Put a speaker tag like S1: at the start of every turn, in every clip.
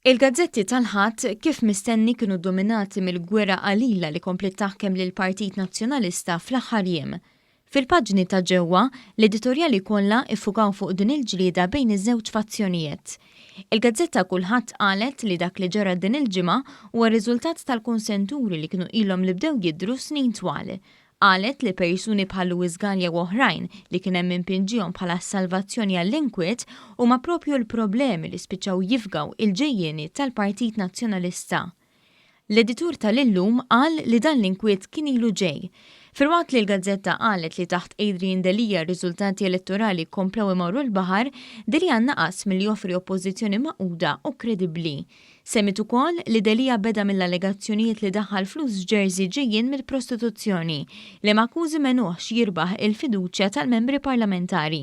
S1: Il-gazzetti tal-Ħadd kif mistenni kienu dominati mill-gwerra qalila li kompliet taħkem lill-Partit Nazzjonalista fl-aħħar jiem. Fil-paġni ta' ġewwa, l-editorjali kollha iffukaw fuq din il-ġlieda bejn iż-żewġ fazzjonijiet. Il-gazzetta Kulħadd qalet li dak li ġara din il-ġimgħa huwa riżultat tal-kunsenturi li kienu ilhom li bdew jidhru snin twal. Qalet li persuni bħal Louis Galea u oħrajn, li kien hemm min pinġiehom bħala s-salvazzjoni għall-inkwiet, huma proprju l-problemi li spiċċaw jifgaw il-ġejjieni tal-Partit Nazzjonalista. L-editur ta' l-illum qal li dan l-inkwiet kien ilu ġej. Filwaqt li l-gazzetta qalet li taħt Adrian Delia r-riżultati elettorali komplew imorru l-baħar, Delia naqas milli joffri oppożizzjoni magħquda u kredibbli. Semmiet ukoll li Delia beda mill-allegazzjonijiet li daħħal flus f'jersey ġejjin mill-prostituzzjoni, li m'akkużi m'għenuhx jirbaħ il-fiduċja tal-membri parlamentari.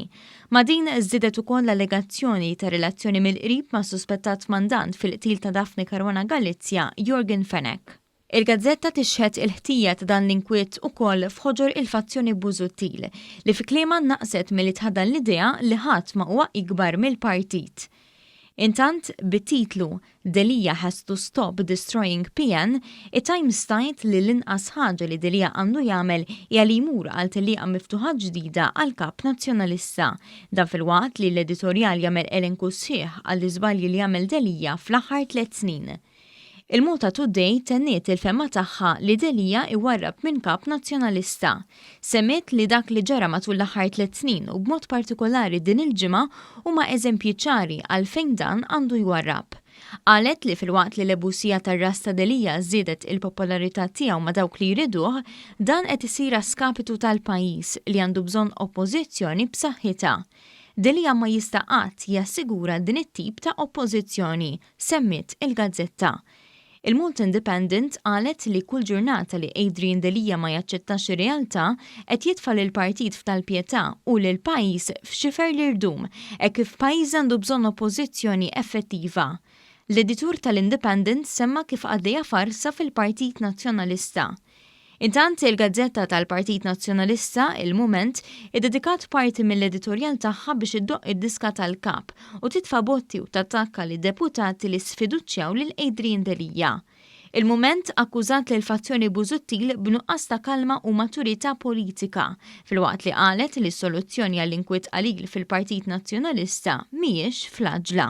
S1: Ma' din żdiedet ukoll l-allegazzjoni ta' relazzjoni mill-qrib mas-suspettat mandant fil-qtil ta' Daphne Caruana Galizia, Yorgen Fenech. Il-gazzetta tixhed il-ħtija ta' dan l-inkwiet ukoll f'ħoġor il-fazzjoni Busuttil, li fi kliemha naqset milli tħadan l-idea li ħadd ma huwa ikbar mill-partit. Intant, bit-titlu Delia has to stop destroying PN, it-Times tgħid li l-inqas ħaġa li Delia għandu jagħmel hija li jmur għal tellieqa miftuħa ġdida għall-Kap Nazzjonalista. Dan filwaqt li l-editorjal jagħmel elenku sħiħ għall-iżbalji li għamel Delia fl-aħħar tliet snin. Il-Malta Today tenniet il-fehma tagħha li Delia iwarrab minn kap Nazzjonalista. Semmiet li dak li ġara matul l-aħħar tliet snin u b'mod partikolari din il-ġimgħa huma eżempji ċari għalfejn dan għandu jwarrab. Qalet li filwaqt li l-ebusija tar-ras ta' Delia żiedet il-popolarità tiegħu ma' dawk li jriduh, dan qed isir a skapitu tal-pajjiż li għandu bżonn oppożizzjoni b'saħħitha. Delia ma jista' qatt jassigura din it-tip ta' oppożizzjoni, semmiet il-gazzetta. Il-Malta Independent qalet li kull ġurnata li Adrian Delia ma jaċċettax ir-realtà qed jitfa' lill-partit f'tal-pjetà u lill-pajjiż f'xifer l-irdum hekk kif pajjiżna għandu bżonn oppożizzjoni effettiva. L-editur tal-Independent semma kif għaddejja farsa fil-Partit Nazzjonalista. Intant, il-gazzetta tal-Partit Nazzjonalista, il-Mument, iddedikat parti mill-editorjal tagħha biex iddoqq id-diska tal-Kap u titfa' botti u tattakka lid-deputati li sfiduċjaw lil Adrian Delia. Il-Mument akkużat lill-fazzjoni Busuttil b'nuqqas ta' kalma u maturità politika, filwaqt li qalet li s-soluzzjoni għall-inkwiet qalil fil-Partit Nazzjonalista mhijiex fl-għaġla.